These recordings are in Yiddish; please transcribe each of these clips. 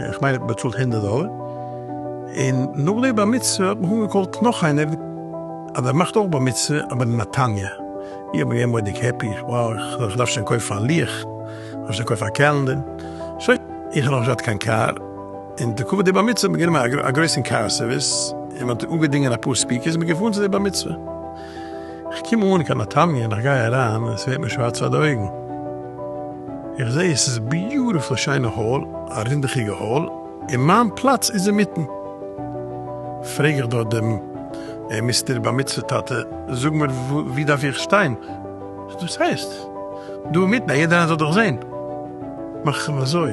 איך מיין איך האב באצאלט הונדערט דאלער, און נאך די בר מצוה האט מיך אנגעקאלט נאך איינער אז ער מאכט אויך בר מצוה אבער אין נתניה, איך בין געווען מורא'דיג העפי, וואו, איך דארף שוין קויפן א לוח, איך דארף שוין קויפן א קעלענדער, שוין, איך האב נאך נישט געהאט קיין קאר, און די כבוד די בר מצוה האט מען גענומען א גרויסן קאר סערוויס, און מען האט אנגעדינגען אפאר ספיקערס, מען איז געפארן צו די בר מצוה, איך קום אן קיין נתניה און איך גיי אריין עס ווערט מיר שווארץ פאר די אויגן איך זע עס איז ביוטיפול שיינע האל א רינדעכיגע האל און מיין פלאץ איז אינמיטן פרעג איך דארט דעם אה מיסטער בר מצוה טאטע זאג מיר ווי דארף איך שטיין דאס הייסט דא אינמיטן אז יעדער איינער זאל דיך זען מאך איך אים אזוי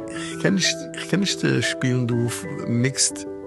איך קען נישט איך קען נישט שפילן דא מיקסד.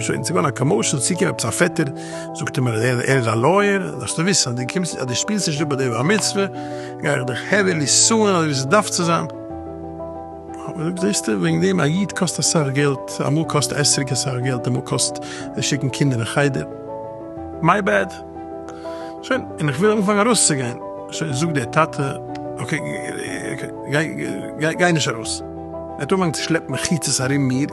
שוין צו ווערן א קאמאושען איז צוקומען עפעס א פעטער זאגט אים ער איז א לויער זאלסטו וויסן אז די קומסט אז די שפילסט נישט אפ ביי די בר מצוה גיי איך דיך העווילי סוען אזוי ווי ס'דארף צו זיין זעסטו וועגן דעם א איד קאסט אסאך געלט אמאל קאסט אסר'יג אסאך געלט אמאל קאסט שיקן קינדער אין חדר מיי בעד שוין און איך וויל אנפאנגען ארויסצוגיין שוין זאגט דער טאטע אקעי גיי גיי גיי נישט ארויס ער האט אנגעפאנגען צו שלעפן מחיצות ארום מיר.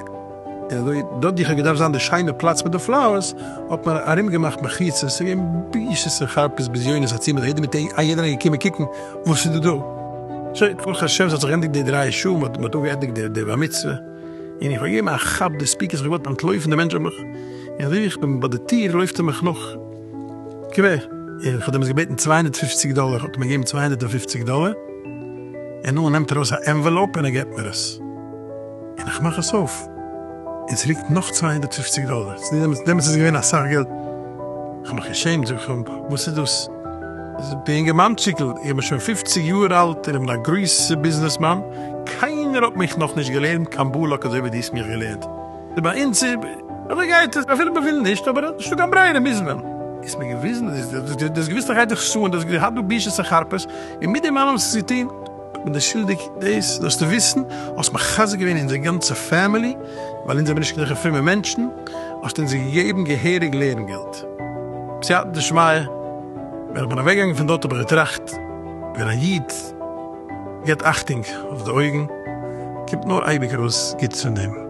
און אזוי דארט גיך האט געדארפט זיין די שיינע פלאץ מיט די פלאוערס, האט מען ארום געמאכט מחיצות, ס'איז געווען בושות און חרפות בזיונות א צימער יעדער מיט א יעדער איז געקומען קוקן וואס איז דא דא. סוי ברוך השם ס'האט זיך געענדיגט די דרײַ שעה, מ'האט מ'האט אפגעענדיגט די די בר מצוה, און איך האב געגעבן א כאפ די ספיקערס, איך האב געוואלט אנטלויפן די מענטש האט מיך, און אזוי ווי איך בין ביי די טיר לויפט ער מיך נאך קווער, און איך האב דעמאלטס געבעטן צוויי הונדערט פֿופֿציק דאלער, האט ער מיר געגעבן צוויי הונדערט און פֿופֿציק דאלער, און נאך נעמט ער ארויס א ענוועלאופ און ער געבט מיר עס. און איך מאך עס אויף און ס'ליגט נאך צוויי הונדערט פֿופֿציק דאלער, דעמאלטס איז עס געווען אסאך געלט, איך האב מיך געשעמט, זאג איך אים, וואס איז דאס? זאגט דער אינגערמאנטשיקל, איך בין שוין פֿופֿציק יאר אלט און איך בין א גרויסע ביזנעסמאן, קיינער האט מיך נאך נישט געלערנט קיין בלק אזוי ווי דו האסט מיך געלערנט, ביי אונז איז אזוי גייט עס, אפילו מען וויל נישט, אבער נישטא קיין ברירה מוז מען. איז מיר געוויזן, דו האסט געוויסט איך הייב דיך צו און דו האסט געהאט דא בושות און חרפות, און מיט דעם אלעם האסט עס געטון. איך בין דער שולדיג, דאס זאלסטו וויסן, האסט מחזק געווען אונזער גאנצע פעמילי, ווייל אונז זעמער נישט קיין זעלכע פרומע מענטשן, האסטו אונז געגעבן געהעריג לערן געלט. בסייעתא דשמיא, ווען איך בין אוועק געגאנגען פון דארט האב איך געטראכט, ווען א איד געבט אכטונג אויף די אויגן, קומט נאר אייביג ארויס גוטס פון דעם.